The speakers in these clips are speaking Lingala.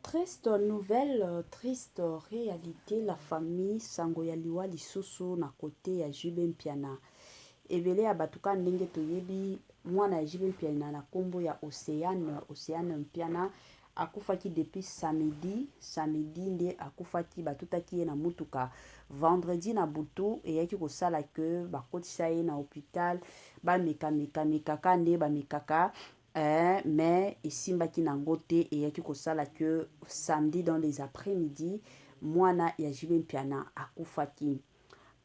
Triste nouvelle triste realite la famille sango ya liwa lisusu na cote ya JB Mpiana ebele ya bato kaka ndenge toyebi mwana ya JB Mpiana na kombo ya Oceane Oceane Mpiana akufaki depuis samedi samedi nde akufaki batutaki ye na mutuka vendredi na butu eyaki kosala ke bakotisa ye na hopital bameka meka mekaka nde bamekaka Eeh mais esimbaki na ngo te eyaki kosala que samedi dans les après midi muana ya JB Mpiana akufaki.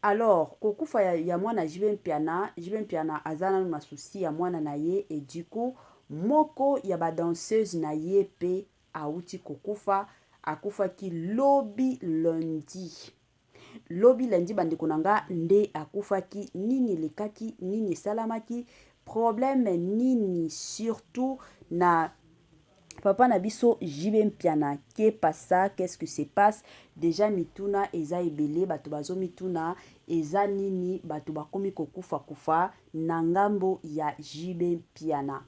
Alors kokufa ya, ya muana JB Mpiana, JB Mpiana aza nanu na souci ya muana na ye et du coup moko ya ba danseuses na ye pe awuti kokufa, akufaki lobi lundi. Lobi lundi bandeko na nga nde akufaki nini elekaki nini esalamaki problème nini surtout na papa na biso JB Mpiana que passa qu'est-ce qui se passe déjà mituna eza ebele bato bazo mituna eza nini bato bakomi kokufa kufa na ngambo ya JB Mpiana.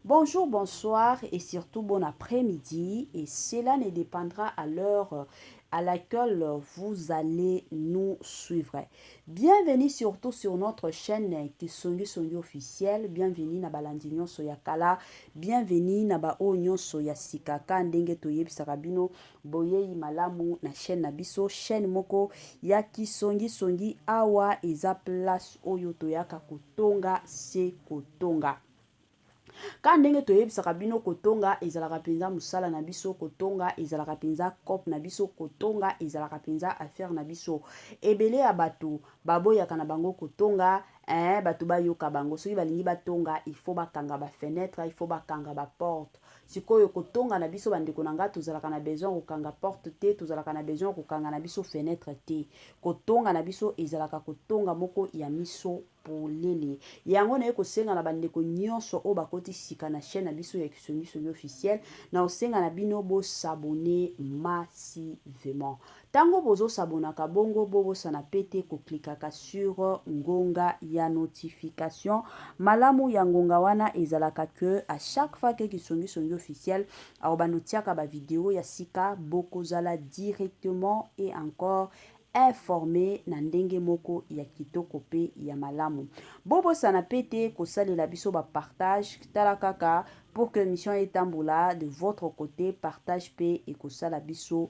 Bonjour, bonsoir et surtout bon après-midi et cela ne dependra à l'heure à laquelle vous allez nous suivre. Bienvenue surtout sur notre chaîne Kisongi Songi officiel. Bienvenue na balandi nyonso ya kala. Bienvenue na ba oyo nyonso ya sika ka ndenge toyebisaka bino Boyeyi malamu na chaine na biso, chaine moko ya ki songi songi, awa eza place oyo toyaka kotonga se kotonga. Ka ndenge toyebisaka bino kotonga ezalaka mpenza mosala na biso, kotonga ezalaka mpenza cop na biso, kotonga ezalaka mpenza affaire na biso. Ebele ya bato baboyaka na bango kotonga, eh, bato bayoka bango. Soki balingi batonga, il faut bakanga ba fenetre, il faut bakanga ba porte. Sikoyo kotonga na biso bandeko na nga tozalaka na besoin ya kokanga porte te, tozalaka na besoin ya kokanga na biso fenetre te. Kotonga na biso ezalaka kotonga moko ya miso polele. Yango naye kosenga na bandeko nyonso oyo bakoti sika na chaîne na biso ya Kisongisongi officiel, na kosenga na bino bo s'abonner massivement. Tango bozo s'abonnaka bongo bo bosana pe te ko clickaka sur ngonga ya notification malamu ya ngonga wana ezalaka que à chaque fois que kisongi songi officiel akobando tiaka ba video ya sika boko zala directement et encore informe na ndenge moko ya kitoko pe ya malamu bo bosana pe te ko salela biso ba partage tala kaka pour que mission etambola de votre cote partage pe ekosala biso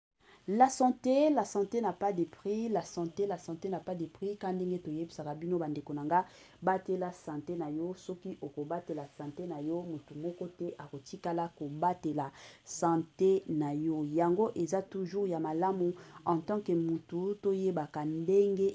La sante la sante n'a pas de prix la sante la sante n'a pas de prix ka ndenge toyebisaka bino bandeko na nga batela sante na yo soki okobatela sante na yo motu moko te akotikala kobatela sante na yo yango eza toujours ya malamu en tant que mutu toyebaka ndenge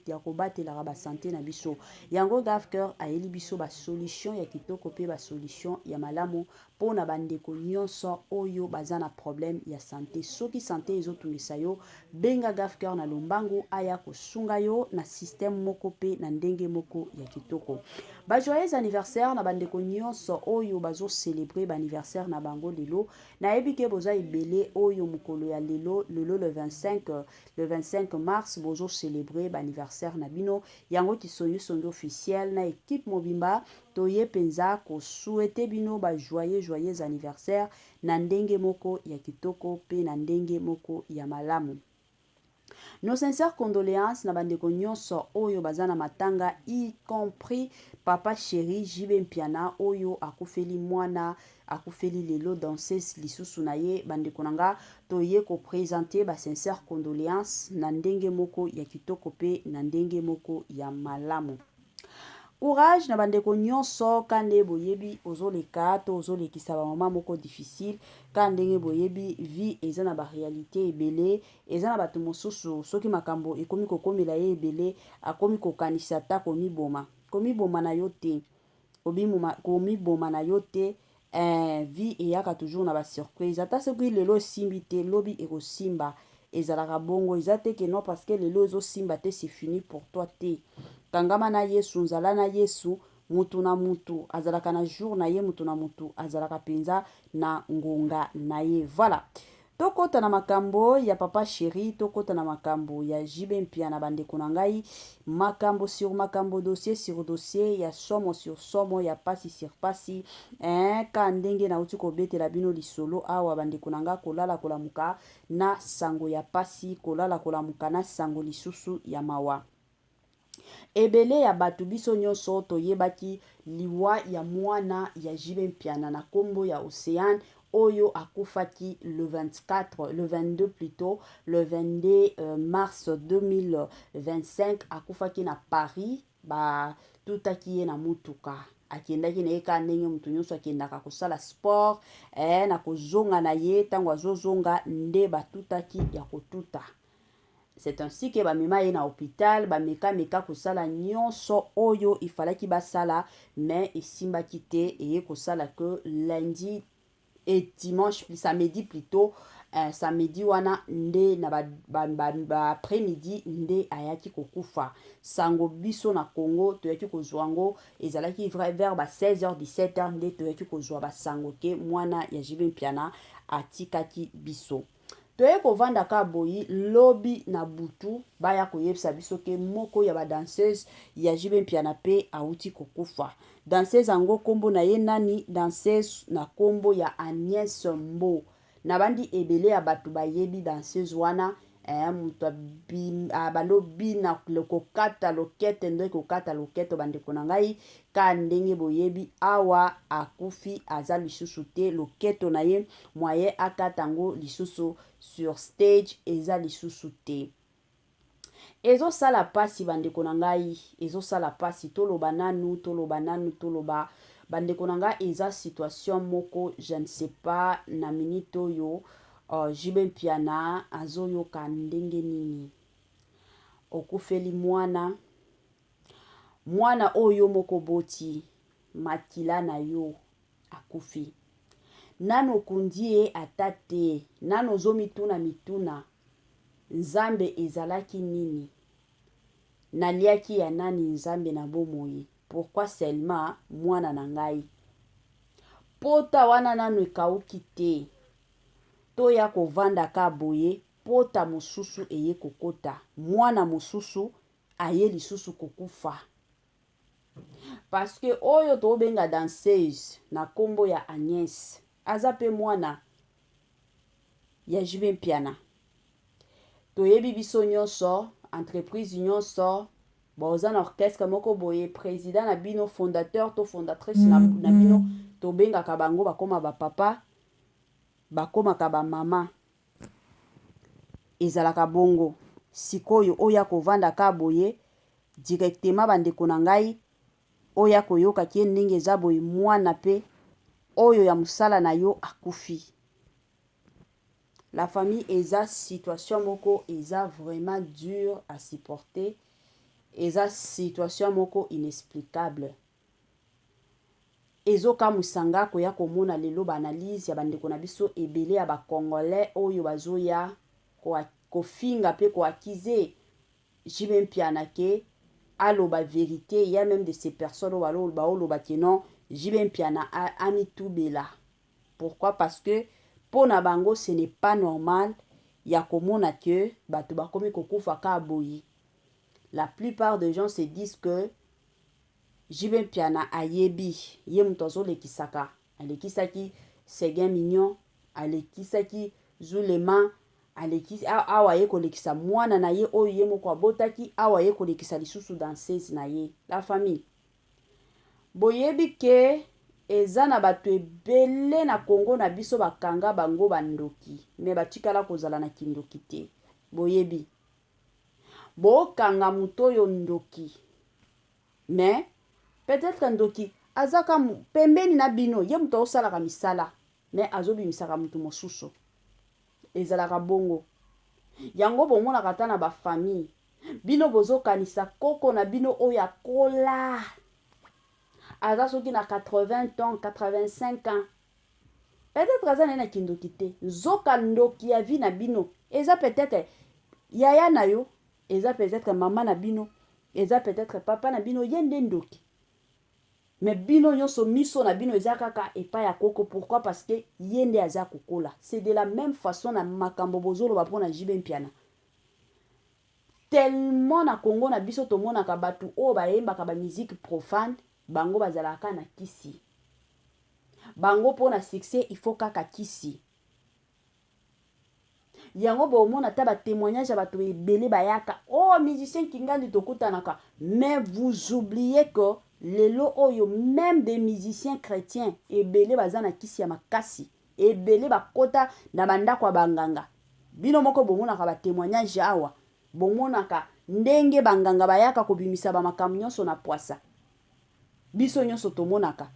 ya kobatelaka basante na biso yango gavcur ayeli biso basolution ya kitoko mpe basolution ya malamu Pona ba ndeko nionso oyo baza na problème ya sante soki sante ezo tungisa yo benga Gafker na lombangu aya ko sunga yo na système moko pe na ndenge moko ya kitoko. Ba joyeux anniversaire na ba ndeko nionso oyo bazo celebrer ba anniversaire na bango lelo. Na yebi ke boza ebele oyo mukolo ya lelo lelo le 25 le 25 mars bozo celebrer ba anniversaire na bino yango kisongi songi officiel na equipe mobimba Toye penza ko souhaiter bino ba joyeux joyeux anniversaire na ndenge moko ya kitoko pe na ndenge moko ya malamu. Nos sincères condoleances na ba ndeko nionso oyo baza na matanga y compris papa cheri JB Mpiana oyo akufeli muana akufeli lelo danseuse lisusu na ye. Ba ndeko na nga toye ko presenter ba sincères condoleances na ndenge moko ya kitoko pe na ndenge moko ya malamu. Courage na bandeko nyonso ka nde boyebi ozoleka to ozolekisa bamama moko difficile ka ndenge boyebi vie eza na barealité ebele eza na bato mosusu soki makambo ekomi kokomela ye ebele akomi kokanisa ata komiboma komiboma na yo te komiboma na yo te Eeh vie eyaka toujours na ba surprise ata soki lelo esimbi te lobi ekosimba ezalaka bongo eza te que non parce que lelo ezo simba te c'est fini pour toi te kangama na Yesu nzala na Yesu mutu na mutu azalaka na jour na ye mutu na mutu azalaka penza na ngonga na ye voilà To kota na makambo ya papa cheri to kota na makambo ya JB Mpiana ba ndeko na ngai makambo sur makambo dossier sur dossier ya somo sur somo ya pasi sur pasi eh ka ndenge na uti ko betela bino lisolo awa ba ndeko na ngai kolala kolamuka na sango ya pasi kolala kolamuka na sango lisusu ya mawa Ebele ya bato biso nionso toyebaki liwa ya muana ya JB Mpiana na kombo ya Oceane oyo akufaki le 24, le 22 plutot, le 22 euh, mars 2025 akufaki na Paris ba tutaki ye na mutuka akendaki na ye kaka ndenge moto nyonso akendaka kosala sport eh, na kozonga na ye ntango azozonga nde batutaki ya kotuta C'est ainsi que ba mema ye na hopital, ba meka meka kosala nionso oyo il falaki basala mais esimbaki te eye kosala que lundi et dimanche plus samedi plutôt euh, samedi wana nde na ba, ba, ba, ba après midi nde ayaki kokufa sango biso na Congo toyaki kozwa ngo ezalaki vrai vers ba 16h 17h nde toyaki kozwa ba sango ke mwana ya JB Mpiana atikaki biso Toye kovanda ka boyi lobi na butu baya koyebisa biso ke moko ya ba danseuses ya JB Mpiana pe awuti kokufa. Danseuse ango kombo na ye nani? Danseuse na kombo ya Agnes Mbo. Nabandi ebele ya batu bayebi danseuse wana eh mutu abanda obina kokata loketo nde kokata loketo bandeko na ngai ka ndenge boyebi awa akufi aza lisusu te loketo na ye moyen akata yango lisusu sur stage eza lisusu te ezosala mpasi bandeko na ngai ezosala mpasi toloba nanu toloba nanu toloba bandeko na ngai eza situation moko je ne sais pas na minute oyo uh, jibe mpiana azoyoka ndenge nini okufeli mwana mwana oyo moko boti makila na yo akufi. Nanu okundi ye ata te, nanu ozomituna mituna, Nzambe ezalaki nini? Naliaki ya nani Nzambe na bomoi? Pourquoi seulement mwana na ngai? Pota wana nanu ekauki te. Toya kovanda ka boye, pota mosusu eye kokota, mwana mosusu aye lisusu kokufa. Parce que oyo tobenga danseuse na kombo ya Agnès aza pe mwana ya JB Mpiana. Toyebi biso nyonso entreprise nyonso boza na orchestre moko boye president na bino fondateur to fondatrice na, na bino tobengaka bango bakoma ba papa bakomaka ba mama ezalaka bongo sikoyo oya kovanda ka boye directement ba ndeko na ngai oya koyoka kie ndenge eza boye muana pe oyo ya musala na yo akufi la famille eza situation moko eza vraiment dur à supporter eza situation moko inexplicable ezo kamuisa nga koya komona lelo ba analyse ya ba ndeko na biso ebele ya ba congolais oyo bazoya kofinga pe ko accuser JB Mpiana que aloba verite, il y a meme de ces personnes oyo baoloba que non, JB Mpiana amitubela. Pourquoi? Parce que mpo na bango ce n'est pas normal ya komona que bato bakomi kokufa kaka boye. La plupart des gens se disent que JB Mpiana ayebi, ye moto azolekisaka Alekisaki Seguin Mignon, alekisaki Zulema, alekisi awa aye kolekisa mwana na ye oyo ye moko abotaki, awa aye kolekisa lisusu danseuse na ye. La famille. Boyebi que eza na batu ebele na Congo na biso bakanga bango ba ndoki mais batikala kozala na kindoki te. Boyebi. Bokanga moto oyo ndoki. Mais peut etre ndoki aza ka pembeni na bino ye mutu azosalaka misala mais azobimisaka mutu mosusu ezalaka bongo yango bomonaka ata na ba famille bino bozokanisa koko na bino oyo akola aza soki na 80 ans 85 ans peut-être aza naye na kindoki te nzoka ndoki ya vie na bino eza peut-être yaya na yo Eza peut etre maman na bino, eza peut etre papa na bino ye nde ndoki. Mais bino nionso miso na bino eza kaka epai ya koko pourquoi parce que ye nde aza kokola. C'est de la meme façon na makambo bozo loba pona JB Mpiana. Tellement na Congo na biso tomonaka batu oyo ba yembaka ba musique profane bango bazalaka kaka na kisi. Bango pona succès il faut kaka kisi. Yango bo mona ata ba temoignage ya bato ebele bayaka oh musicien kingandi tokutanaka mais vous oubliez que lelo oyo meme des musiciens chretiens ebele baza na kisi ya makasi ebele bakota na bandako ya banganga bino moko bomonaka ba temoignage awa bomonaka ndenge banganga bayaka kobimisa ba makambo nyonso na pwasa biso nionso tomonaka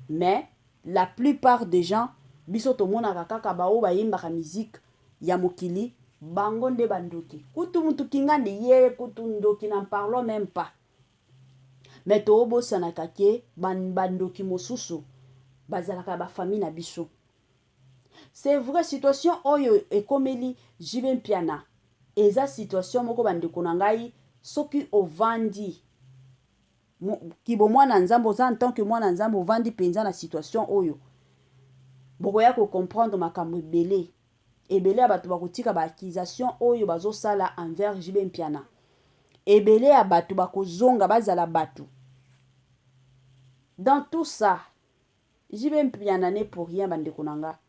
mais la plus part des gens biso tomonaka kaka ba oyo bayembaka musique ya mokili bango nde ba ndoki kutu mutu kingandi ye kutu ndoki n'en parlons meme pas mais toobosanaka ke ba, ba ndoki mosusu bazalaka ya ba famille na biso c'est vrai situation oyo ekomeli JB Mpiana eza situation moko ba ndeko na ngai soki ovandi kibo mwana nzambe oza en tant que mwana nzambe ovandi penza na situation oyo bokoya ko comprendre makambo ebele ebele ya bato bakotika ba accusation oyo bazosala envers JB Mpiana ebele ya bato bakozonga bazala bato dans tout ça JB Mpiana ne pour rien bandeko na nga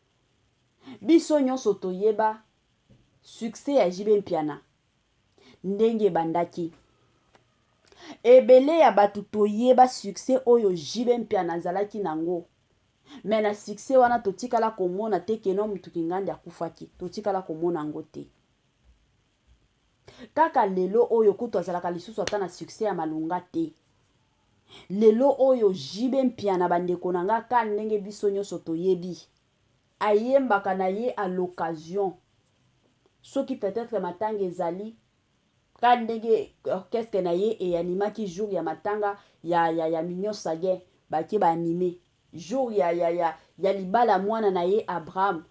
biso nyonso toyeba succès ya JB Mpiana ndenge ebandaki ebele ya bato toyeba succès oyo JB Mpiana azalaki nango me na succès wana totikala komona te keno motu kingandi akufaki totikala komona yango te kaka lelo oyo kutu azalaka lisusu ata na succès ya malonga te lelo oyo JB Mpiana bandeko na nga ka ndenge biso nyonso toyebi Ayembaka na ye à l'occasion. Soki peut etre matanga ezali, ka ndenge orchestre na ye e animaki jour ya matanga ya, ya, ya Mignon Saguin, bake ba anime. Jour ya, ya, ya, ya libala ya mwana na ye Abraham,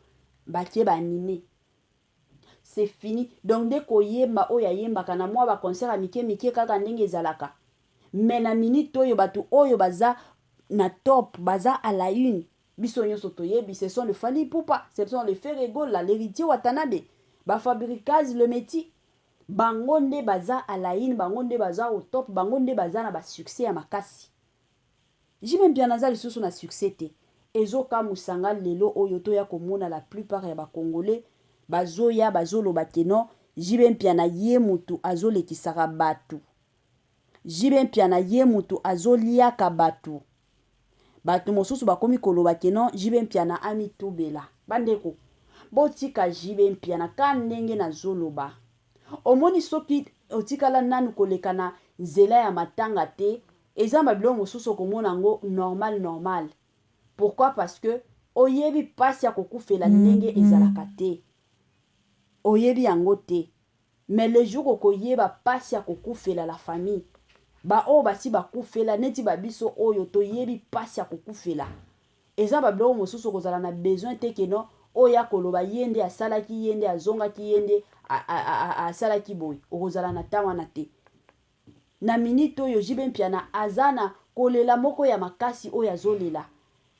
bake ba anime. C'est fini. Donc nde koyemba oyo ayembaka na mwa ba concert ya mike mike kaka ndenge ezalaka. Mais na minute oyo batu oyo baza na top, baza à la une, Biso nionso toyebi ce sont le Fally Ipupa, ce sont le Ferre Gola, l'heritier Watanabe, ba Fabricaz, le Meti. Bango nde baza à la une, bango nde baza au top, bango nde baza na ba succès ya makasi. JB Mpiana aza lisusu na succès te. Ezo kamuisa nga lelo oyo toya komona la plupart ya ba Congolais bazoya bazoloba que non JB Mpiana ye mutu azolekisaka batu JB Mpiana ye mutu azo liaka batu. Batu mosusu bakomi koloba que non JB Mpiana ami tubela. Ba ndeko, botika JB Mpiana ka ndenge nazo loba. Omoni soki otikala nanu koleka na nzela ya matanga te, eza ba biloko mosusu okomona yango normal normal. Pourquoi parce que oyebi pasi ya kokufela ndenge ezalaka te. Oyebi yango te. Mais le jour okoyeba pasi ya kokufela la famille ba oyo basi bakufela neti ba biso oyo toyebi pasi ya kokufela eza ba biloko mosusu okozala na besoin te que non oyo akoloba ye nde asalaki ye nde azongaki ye nde asalaki boye okozala na temps wana te. Na minute oyo JB Mpiana aza na kolela moko ya makasi oyo azolela.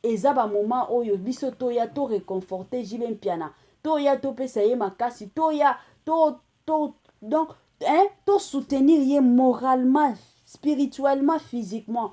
Eza ba moment oyo biso toya to reconforter JB Mpiana, toya topesa ye makasi, toya to to donc hein to soutenir ye moralement, spirituellement, physiquement.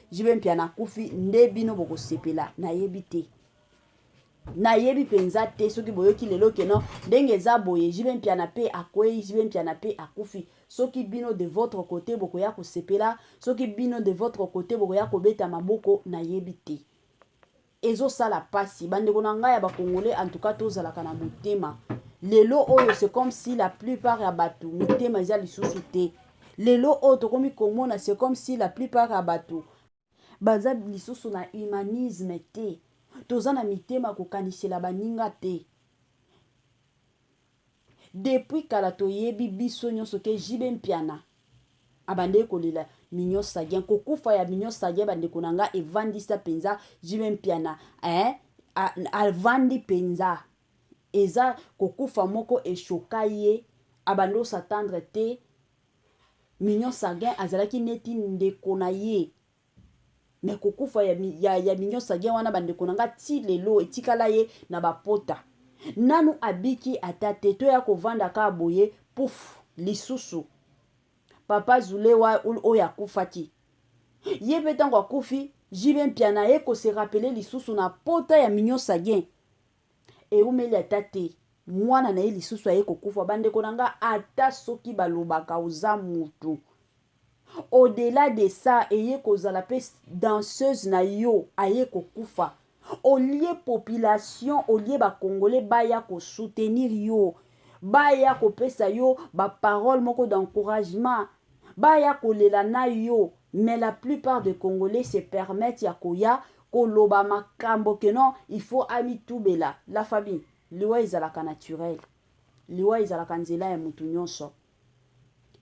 JB Mpiana akufi nde bino bokosepela nayebi te nayebi mpenza te soki boyoki lelo keno ndenge eza boye JB Mpiana mpe akwei JB Mpiana mpe akufi soki bino de votre côté bokoya kosepela soki bino de votre côté bokoya kobeta maboko nayebi te Ezo sala pasi ba ndeko na ngai ya ba congolais en tout cas to zalaka na motema lelo oyo c'est comme si la plupart ya batu mitema eza lisusu te lelo oyo tokomi komona c'est comme si la plupart ya batu baza lisusu na humanisme te toza na mitema kokanisela baninga te Depuis kala toyebi biso nionso ke JB Mpiana abandaki kolela Mignon Sagien. Kokufa ya Mignon Sagien ba ndeko na nga evandisa penza JB Mpiana eh avandi penza. Eza kokufa moko e choka ye abandi o s'attendre te Mignon Sagien azalaki neti ndeko na ye. Mais kokufa ya, ya, ya Mignon Saguin wana bandeko na nga ti lelo etikala ye na ba pota. Nanu abiki ata te, toya kovanda kaka boye puff lisusu. Papa Zule wa, oyo akufaki. Ye pe tango akufi, JB Mpiana aye ko se rappeler lisusu na pota ya Mignon Saguin. Eumeli ata te, mwana na ye lisusu aye kokufa. Bandeko na nga, ata soki balobaka oza mutu, au-delà de ça, eye kozala pe danseuse na yo aye kokufa. Au lieu population, au lieu ba Congolais baya ko soutenir yo, baya kopesa yo ba paroles moko d'encouragement, baya kolela na yo, mais la plupart des Congolais se permettent ya koya koloba makambo que non il faut amitubela la famille liwa ezalaka naturel liwa ezalaka nzela ya mutu nionso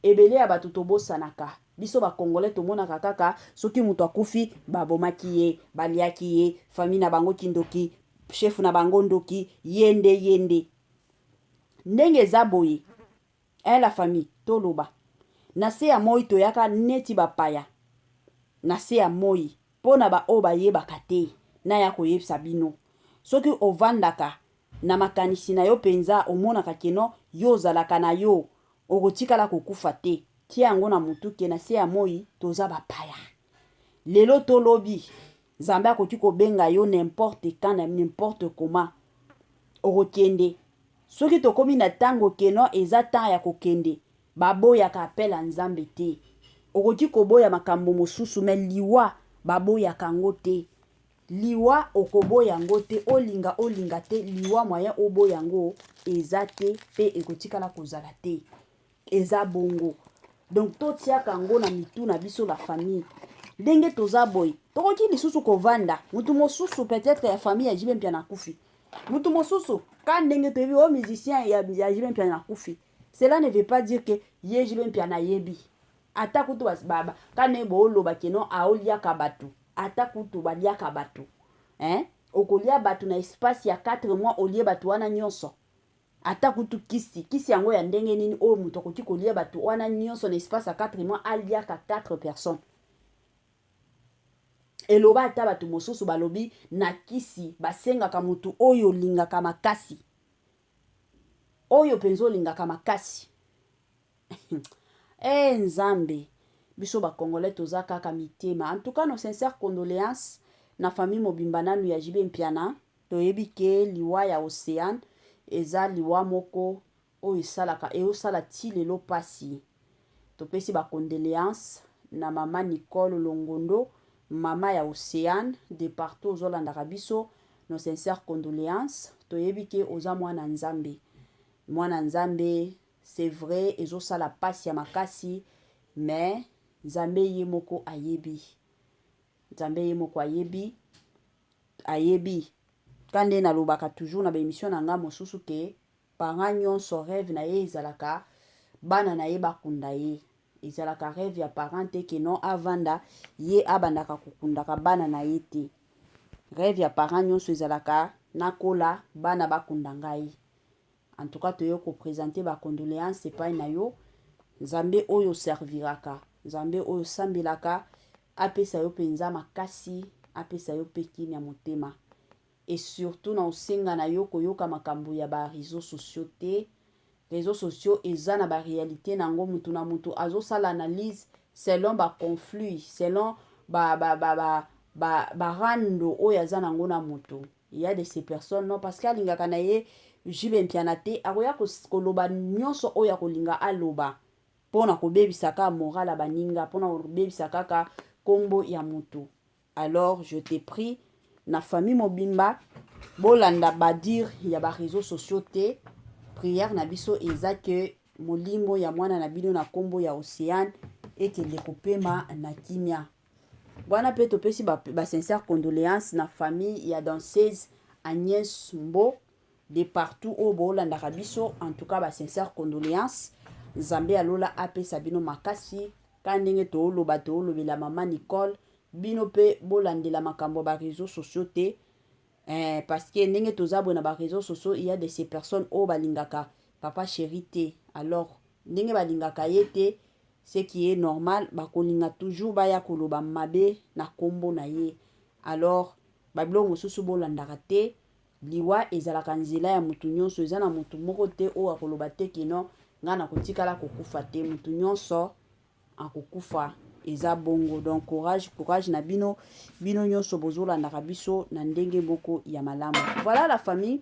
ebele ya batu tobosanaka biso ba congolais tomonaka kaka soki mutu akufi babomaki ye baliaki ye famille na bango kindoki chef na bango ndoki yende yende ndenge eza boye Eh la famille toloba na se ya moyi toyaka neti ba paya na se ya moyi pona ba oyo bayebaka te naya koyebisa bino soki ovandaka na makanisi nayo penza omonaka ke non yo ozalaka nayo okotikala kokufa te tia yango na mutu ke na se ya moyi toza ba paya lelo to lobi zambe akoki kobenga yo n'importe quand n'importe comment okokende Soki tokomi na tango que non eza temps ya kokende, ba boyaka appel ya Nzambe te. Okoki koboya makambo mosusu mais liwa ba boyaka yango te. Liwa okoboya yango te, olinga olinga te, liwa moyen oboya yango eza te pe ekotikala kozala te. eza bongo donc totiaka yango na mitu na biso la famille ndenge toza boye tokoki lisusu kovanda mutu mosusu peut-être ya famille ya jibe mpia na kufi mutu mosusu ka ndenge toyebi o oh, musicien ya, ya jibe mpia na kufi cela ne veut pas dire que ye jibe mpia nayebi ata kutu basibaba ka ndenge booloba keno aoliaka bato ata kutu baliaka bato eh? okolia bato na espace ya 4 mois olie bato wana nyonso Ata kutu kisi, kisi yango ya ndenge nini oyo mutu akoki kolia batu wana nionso na espace ya quatre mois aliaka quatre personnes? Eloba ata batu mosusu balobi na kisi basengaka mutu oyo olingaka makasi, oyo penza olingaka makasi Eh Nzambe, biso ba Congolais toza kaka mitema. En tout cas, nos sincères condoléances na famille mobimba nanu ya JB Mpiana. Toyebi ke liwa ya Ocean eza liwa moko oyo esalaka ezo sala ti lelo pasi. Topesi ba condoleances na mama Nicole Longondo, mama ya Ocean, de partout ozo landaka biso, nos sincères condoleances. Toyebi ke oza mwana Nzambe. Mwana Nzambe c'est vrai ezo sala pasi ya makasi mais Nzambe ye moko ayebi. Nzambe ye moko ayebi. Ayebi. Ka nde na lobaka toujours na ba emission na nga mosusu ke parent nionso reve na ye ezalaka bana na ye ba kunda ye. Ezalaka reve ya parent te ke non avanda ye abandaka ko kundaka bana na ye te. Reve ya parent nionso ezalaka na kola bana ba kunda ngai. En tout cas toye ko presenter ba condoleances epai na yo. Nzambe oyo serviraka, Nzambe oyo sambelaka apesa yo penza makasi, apesa yo pe kimia motema. Et surtout na osenga na yo koyoka makambo ya ba reseaux sociaux te. Reseaux sociaux eza na ba realites na yango, mutu na mutu azo sala analyse selon ba conflits, selon ba ba ba ba ba, ba rando oyo aza na yango na mutu. Il ya de ces personnes non parce que alingaka na ye Jules Mpiana te akoya koloba nionso oyo akolinga aloba pona kobebisa ka moral ya baninga pona kobebisa kaka kombo ya mutu alors je te prie na famille mobimba bolanda badir ya ba réseaux sociaux te prière na biso eza que molimo ya mwana na bino na kombo ya Oceane ekende kopema na kimia Wana pe topesi ba, ba sincères condoléances na famille ya danseuse Agnès Mbo de partout oyo bolandaka biso. En tout cas ba sincères condoléances, Nzambe ya lola apesa bino makasi ka ndenge tooloba toolobela mama Nicole. Bino pe bolandela makambo ya ba réseaux sociaux te eh, parce que ndenge toza boye na ba réseaux sociaux il y a de ces personnes oyo balingaka papa chéri te alors ndenge balingaka ye te ce qui est normal bakolinga toujours baya koloba mabe na kombo na ye alors ba biloko mosusu bolandaka te liwa ezalaka nzela ya mutu nyonso eza na mutu moko te oyo akoloba te que non nga nakotikala kokufa te mutu nyonso akokufa eza bongo donc courage courage na bino bino nyonso bozolandaka biso na ndenge moko ya malamu voilà la famille